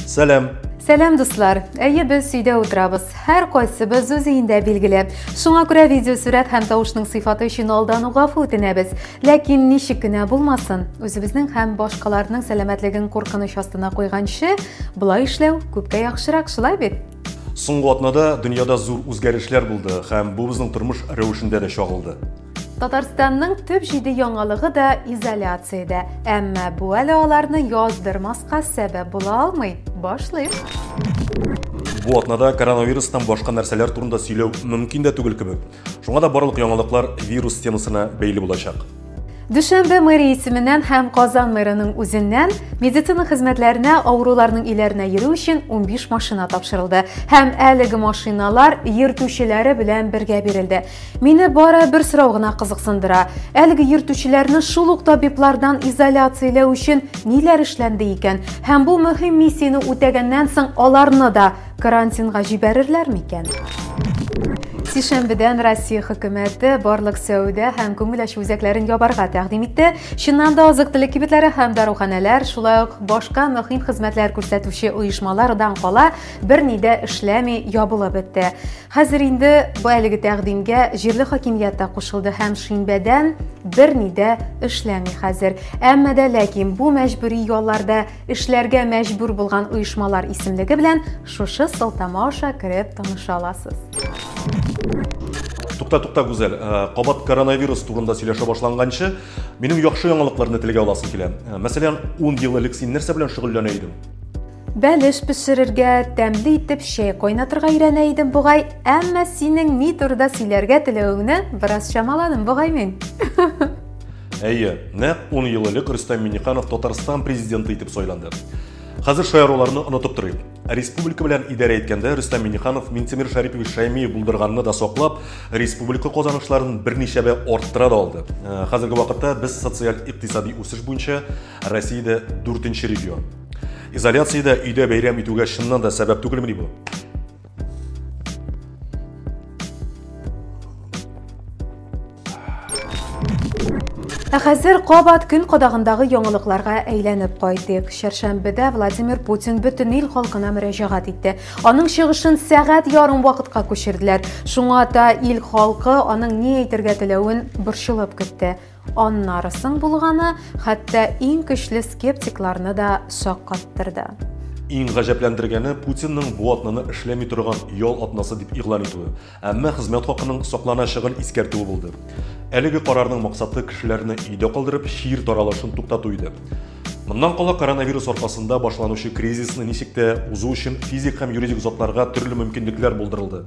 Сәлам! Сәлам дуслар! Әйе, без сөйдә утырабыз. Һәр кайсыбыз үз өендә билгеле. Шуңа күрә видео сүрәт һәм тавышның сыйфаты өчен алдан угафу үтенәбез. Ләкин ничек кенә булмасын, үзебезнең һәм башкаларның сәламәтлеген куркыныч астына куйганчы, болай эшләү күпкә яхшырак, шулай бит? Соңгы атнада дөньяда зур үзгәрешләр булды һәм бу безнең тормыш рәвешендә дә чагылды. Татарстанның төп җиде яңалыгы да изоляциядә, әмма бу әле аларны яздырмаска сәбәп була алмый. Башлыйм. Бу атнада коронавирустан башка нәрсәләр турында сөйләү мөмкин дә түгел кебек. Шуңа да барлык яңалыклар вирус темасына бәйле булачак. Дүшәмбе мэри исеменнән һәм Казан мэрының үзеннән медицина хезмәтләренә авыруларның иләренә йөрү өчен 15 машина тапшырылды һәм әлеге машиналар йөртүчеләре белән бергә бирелде. Мине бары бер сорау гына кызыксындыра. Әлеге йөртүчеләрне шул ук табиблардан изоляцияләү өчен ниләр эшләнде икән? Һәм бу мөһим миссияне үтәгәннән соң аларны да карантинга җибәрерләр микән? Сишәмбедән Россия хөкүмәте барлык сәүдә һәм күңел ачу үзәкләрен ябарга тәкъдим итте. Чыннан да азык-төлек кибетләре һәм даруханәләр, шулай ук башка мөһим хезмәтләр күрсәтүче оешмалар дан кала берни дә эшләми ябылып бетте. Хәзер инде бу әлеге тәкъдимгә җирле хакимият та кушылды һәм шимбәдән берни дә эшләми хәзер. Әмма дә ләкин бу мәҗбүри ялларда эшләргә мәҗбүр булган оешмалар исемлеге белән шушы сылтама аша кереп таныша аласыз. Тукта, тукта, Гүзәл, э, кабат коронавирус турында сөйләшә башланганчы, минем яхшы яңалыкларны телгә аласым килә. Э, мәсәлән, 10 ел элек син нәрсә белән шөгыльләнә идең? Бәлеш пешерергә, тәмле итеп чәй кайнатырга өйрәнә идем бугай, әмма синең ни турыда сөйләргә теләвеңне бераз чамаладым бугай мин. Әйе, нәкъ 10 ел элек Рөстәм Миннеханов Татарстан президенты итеп сайланды. Хәзер шаяруларны онытып торыйк. Республика белән идарә иткәндә Рөстәм Миннеханов Минтимер Шәрипович Шәймиев булдырганны да саклап, республика казанышларын берничәбә арттыра да алды. Э, хәзерге вакытта без социаль-икътисади үсеш буенча Россиядә 4 регион. Изоляциядә өйдә бәйрәм итүгә чыннан да сәбәп түгелмени бу? Ә хәзер кабат көн кадагындагы яңалыкларга әйләнеп кайтыйк. Чәршәмбедә Владимир Путин бөтен ил халкына мөрәҗәгать итте. Аның чыгышын сәгать ярым вакытка күчерделәр. Шуңа да ил халкы аның ни әйтергә теләвен борчылып көтте. Аннары соң булганы хәтта иң көчле скептикларны да шаккаттырды. Иң гаҗәпләндергәне Путинның бу атнаны эшләми торган ял атнасы дип игълан итүе, әмма хезмәт хакының сакланачагын искәртүе булды. Әлеге карарның максаты кешеләрне өйдә калдырып, чир таралышын туктату иде. Моннан кала коронавирус аркасында башланучы кризисны ничек тә узу өчен физик һәм юридик затларга төрле мөмкинлекләр булдырылды.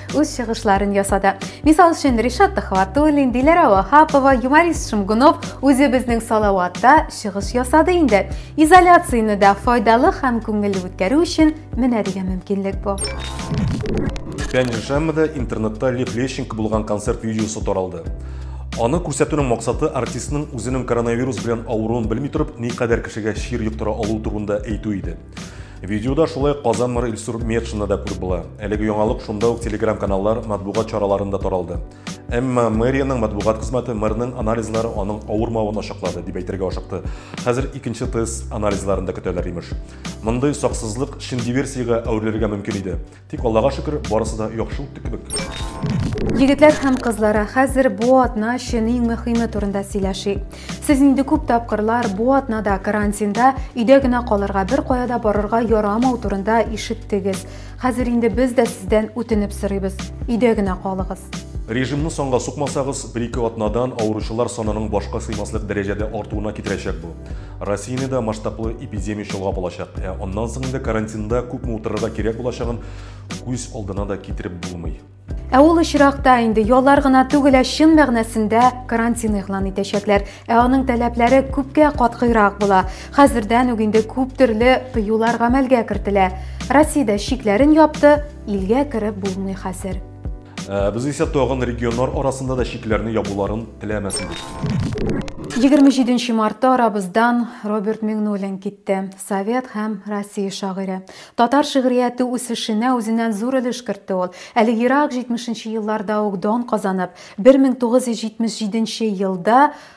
үз чыгышларын ясады. Мисал өчен, Ришат Төхватуллин, Диләрә Вахапова, Юмарист Шымгунов үзе безнең Салаватта чыгыш ясады инде. Изоляцияне дә файдалы һәм күңелле үткәрү өчен менә дигән мөмкинлек бу. Пионершаммада интернетта Лев Лещенко булган концерт видеосы таралды. Аны күрсәтүнең максаты артистның үзенең коронавирус белән авыруын белми торып, никадәр кешегә чир йоктыра алу турында әйтү иде. Видеода шулай Казан мэры Илсур Метшина да күреп була. Әлеге яңалык шунда ук телеграм-каналлар матбугат чараларында таралды. Әмма мэриянең матбугат хезмәте мэрның анализлары аның авырмавын ачыклады дип әйтергә ашыкты. Хәзер икенче тест анализларында көтәләр имеш. Мондый саксызлык шин диверсиягә әверелергә мөмкин иде. Тик Аллага шөкер, барысы да яхшы үтте кебек. Егетләр һәм кызлары, хәзер бу атна өчен иң мөһиме турында сөйләшик. Сез инде күп тапкырлар бу атнада карантинда өйдә генә калырга, бер кая да барырга ярамау турында ишеттегез. Хәзер инде без дә сездән үтенеп сорыйбыз. Өйдә генә калыгыз. Режимны санга сукмасагыз, бер-ике атнадан авыручылар санының башка сыймаслык дәрәҗәдә артуына китерәчәк бу. Россияне дә масштаблы эпидемия чолгап алачак. Ә аннан соң инде карантинда күпме утырырга кирәк булачагын күз алдына да китереп булмый. Ә ул очракта инде яллар гына түгел, ә чын мәгънәсендә карантин игълан итәчәкләр. Ә аның таләпләре күпкә катгыйрак була. Хәзердән үк инде күп төрле тыюлар гамәлгә кертелә. Россиядә чикләрен япты, илгә кереп булмый хәзер. Э, без исә тагын регионнар арасында да чикләрне ябуларын теләмәсенбез. 27 мартта арабыздан Роберт Миңнуллин китте. Совет һәм Россия шагыйре. Татар шигърияте үсешенә үзеннән зур өлеш кертте ул. Әле ерак 70 елларда ук дан казанып, 1977 елда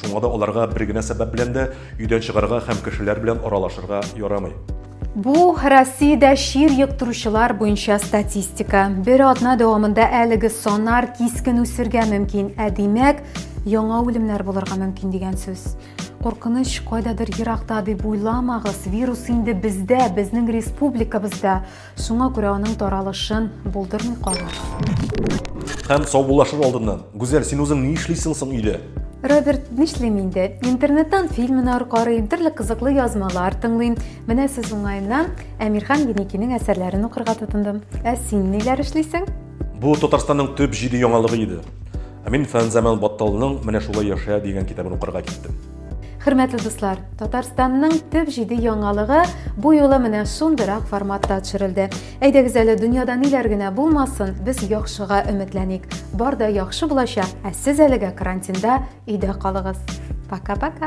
Шуңа да аларга бер генә сәбәп белән дә өйдән чыгарга һәм кешеләр белән аралашырга ярамый. Бу Россиядә чир йоктыручылар буенча статистика. Бер атна дәвамында әлеге санар кискен үсергә мөмкин, ә димәк, яңа үлемнәр булырга мөмкин дигән сүз. Куркыныч кайдадыр еракта дип уйламагыз, вирус инде бездә, безнең республикабызда. Шуңа күрә аның таралышын булдырмый калыр. Һәм саубуллашыр алдыннан, Гүзәл, син үзең ни эшлисең соң өйдә? Роберт, нишлим инде? Интернеттан фильмнар карыйм, төрле кызыклы язмалар тыңлыйм. Менә сез уңаеннан Әмирхан Еникинең әсәрләрен укырга тотындым. Ә син ниләр эшлисең? Бу Татарстанның төп җиде яңалыгы иде. Ә мин Фәнзаман Батталының Менә шулай яшә дигән китабын укырга киттем. Хөрмәтле дуслар, Татарстанның төп җиде яңалыгы бу юлы менә шундыйрак форматта төшерелде. Әйдәгез әле дөньяда ниләр генә булмасын, без яхшыга өметләник. Бар да яхшы булачак, ә сез әлегә карантинда өйдә калыгыз. Пока-пока.